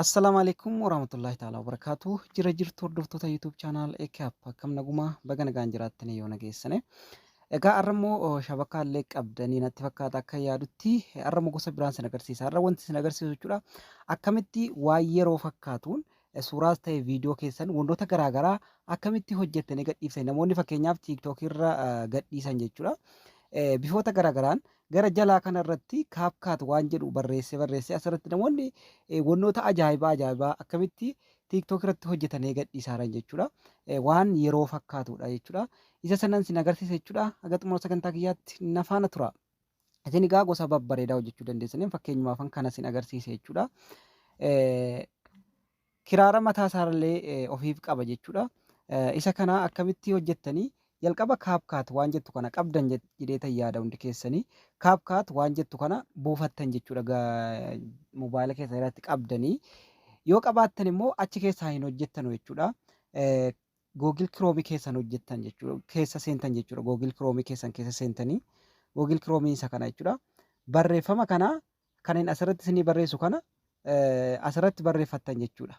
Assalaamu alaikum warahmatullahi ta'ala wabarakaatu. Jira jirtu hordoftoota YouTube channel Ekap akkam naguma baga nagaan jiraattanii yoo nageessane. Egaa har'a immoo shabakaa illee qabdanii natti fakkaata akka yaadutti har'a immoo gosa biraan sin agarsiisa. Har'a wanti sin agarsiisu jechuudha akkamitti waa yeroo fakkaatuun Suuraas ta'e viidiyoo keessan wantoota garaa garaa akkamitti hojjettanii gadhiiftan namoonni fakkeenyaaf TikTok irra gadhiisan jechuudha. Bifoota garaa garaan gara jalaa kana irratti kaapkaat waan jedhu barreessee barreessee asirratti namoonni wantoota ajaa'ibaa ajaa'ibaa akkamitti TikTok irratti hojjetanii gadhiisaaran jechuudha. Waan yeroo fakkaatudha jechuudha. Isa sanan sin agarsiisa jechuudha. Haga xumura sagantaa kiyyaatti na faana tura. Isin egaa gosa babbareedaa hojjechuu dandeessaniin fakkeenyumaafan kana isin agarsiise jechuudha. Kiraara mataa isaarallee ofiif qaba jechuudha. Isa kana akkamitti hojjettanii jalqaba kaapkaat waan jettu kana qabdan jedheetan yaada hundi keessanii kaapkaat waan jettu kana buufattan jechuudha mobaayila keessan irratti qabdanii yoo qabaattan immoo achi keessaa hin hojjettanu jechuudha. Google Chrome keessan hojjettan jechuudha. Keessa seentan jechuudha. Google Chrome keessan keessa seentanii Google Chrome isa kana jechuudha. Barreeffama kana kanin asirratti isinii barreessu kana asirratti barreeffattan jechuudha.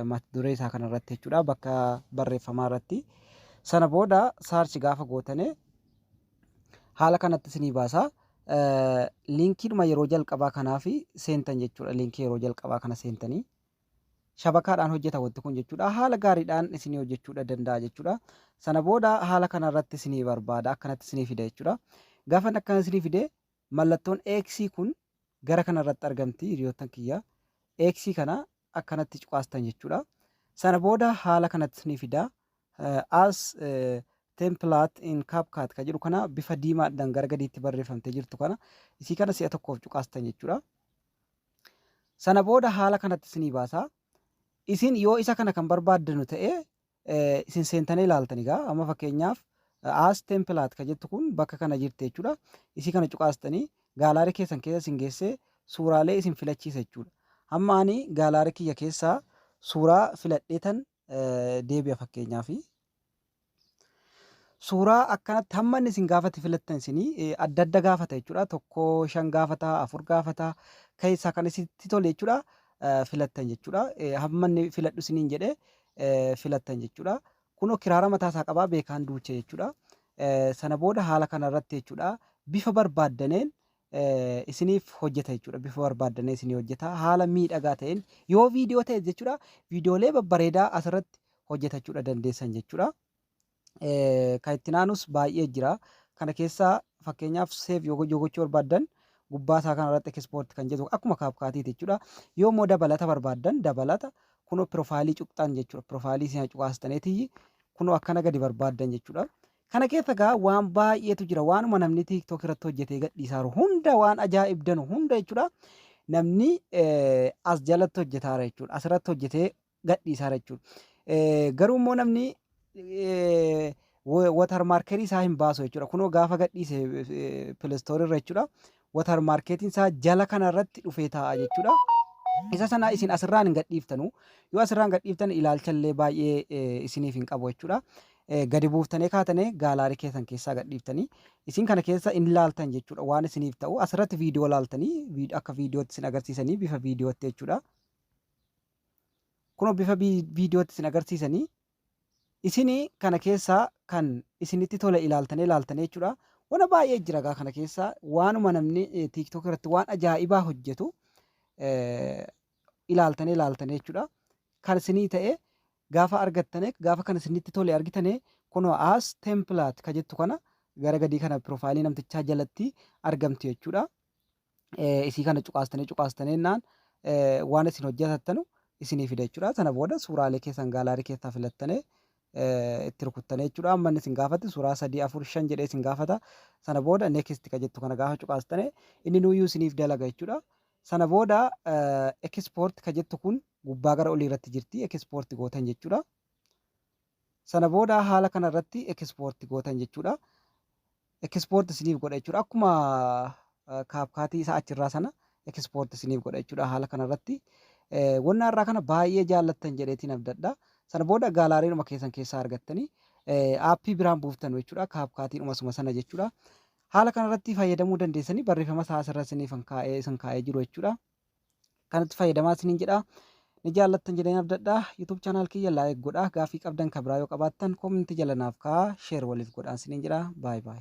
Mata duree isaa kanarratti jechuudha. Bakka barreeffamaa irratti. Sana booda saarchi gaafa gootane haala kanatti isinii baasa. Liinkiidhuma yeroo jalqabaa kanaa fi seentan jechuudha. Liinkii yeroo jalqabaa kana seentanii shabakaadhaan hojjeta wanti kun jechuudha. Haala gaariidhaan isinii hojjechuudha danda'a jechuudha. Sana booda haala kana irratti isinii barbaada akkanatti isinii fida jechuudha. Gaafa inni akkana isinii fide mallattoon X kun gara kana irratti argamti hiriyoottan kiyya. X kana akkanatti cuqaastan jechuudha. Sana booda haala kanatti isinii fida. Eh, As eh, template in CapCut kan jedhu kana bifa diimaadhaan gara gadiitti barreeffamtee jirtu kana isii kana si'a tokkoof cuqaastan jechuudha. Sana booda haala kanatti isinii baasa. Isin yoo isa kana kan barbaaddanu ta'e isin seentanii ilaaltan egaa amma fakkeenyaaf as template kan jettu kun bakka kana jirti jechuudha. Isii kana cuqaastanii gaalaarii keessan keessa isin geessee suuraalee isin filachiisa jechuudha. Amma ani gaalaarii kiyya keessaa suuraa filadheetan deebi'a fakkeenyaaf suuraa akkanatti hamma inni isin gaafate filattan isin adda adda gaafata jechuudha tokko shan gaafata afur gaafata keessaa kan isinitti tole jechuudha filattan jechuudha hamma inni filadhu isiniin jedhe filattan jechuudha kunoo kiraara mataa isaa qabaa beekaan duucha jechuudha sana booda haala kana irratti jechuudha bifa barbaaddaneen isiniif hojjeta jechuudha. Bifa barbaaddanee isinii hojjeta. Haala miidhagaa ta'een yoo viidiyoo ta'e jechuudha viidiyoolee babbareedaa asirratti hojjetachuudha dandeessan jechuudha. Kan itti naanus baay'ee jira. Kana keessaa fakkeenyaaf seef yoo gochuu barbaaddan gubbaa isaa kanarratti ekspoorti kan jedhu akkuma kaapkaatiiti jechuudha. Yoo immoo dabalata barbaaddan dabalata kunoo piroofaayilii cuqxan jechuudha. Piroofaayilii isin cuqaastaniiti kunoo akkana gadi barbaaddan jechuudha. Kana keessa gaa waan baay'eetu jira. Waanuma namni TikTok irratti hojjetee gadhiisaaru hunda waan ajaa'ibdanu hunda jechuudha. Namni as jalatti hojjetaara jechuudha. Asirratti hojjetee gadhiisaara jechuudha. Garuu immoo namni watarmaarkerii isaa hin baasu jechuudha. Kunoo gaafa gadhiise pilistoorii irra jechuudha. water marketiin isaa jala kana irratti dhufee taa'a jechuudha. Isa sana isin asirraan hin gadhiiftanu. Yoo asirraan gadhiiftan ilaalcha illee baay'ee eh, isiniif hin qabu jechuudha. Eh, Gadi buuftanii kaatanii gaalaarii keessan keessaa gadhiiftanii isin kana keessa hin laaltan jechuudha. Waan isiniif ta'u asirratti viidiyoo laaltanii vi- akka viidiyootti isin agarsiisanii bifa viidiyootti jechuudha. Kunoo bifa vi- viidiyootti isin agarsiisanii Isini kana keessa kan isinitti tole ilaaltane laaltane jechudha. Wana baay'ee jira gaa kana keessa waanuma namni tiktok irratti waan ajaa'ibaa hojjetu ilaaltane laaltane jechudha. Kan isinii ta'e gaafa argattane gaafa kan isinitti tole argitane kunoo as template ka jettu kana gara gadii kana piroofaayilii namtichaa jalatti argamti jechuudha. isii kana cuqaastanii cuqaastanii jennaan waan isin hojjetattanu isinii fida jechuudha. Sana booda suuraalee keessan gaalaarii keessaa filattanii itti rukuttanii jechuudha. Amma inni isin gaafatti suuraa sadii afur shan jedhee isin gaafata. Sana booda next ka jettu kana gaafa cuqaastanii inni nuyyuu isiniif dalaga jechuudha. Sana booda export ka jettu kun gubbaa gara olii irratti jirti export gootan jechuudha. Sana booda haala kana irratti export gootan jechuudha. Export isiniif godha jechuudha. Akkuma kaapkaatii isaa achirraa sana export isiniif godha jechuudha haala kana irratti. Wanna irraa kana baay'ee jaallattan jedheetiin abdadha. Sana booda gaalaariidhuma keessan keessaa argattanii aappii biraan buuftanu jechuudha. Kaapkaatiidhuma suma sana jechuudha. Haala kana irratti fayyadamuu dandeessanii barreeffama isaa asirra isiniif kaa'ee isin kaa'ee jiru jechuudha. kanatti fayyadamaa isiniin jedha. Ni jaallattan jedheen abdadha. YouTube channel kiyya like godha. Gaafii qabdan kan biraa yoo qabaattan comment jala naaf kaa'aa share waliif godhaan isiniin jedha. Bye bye.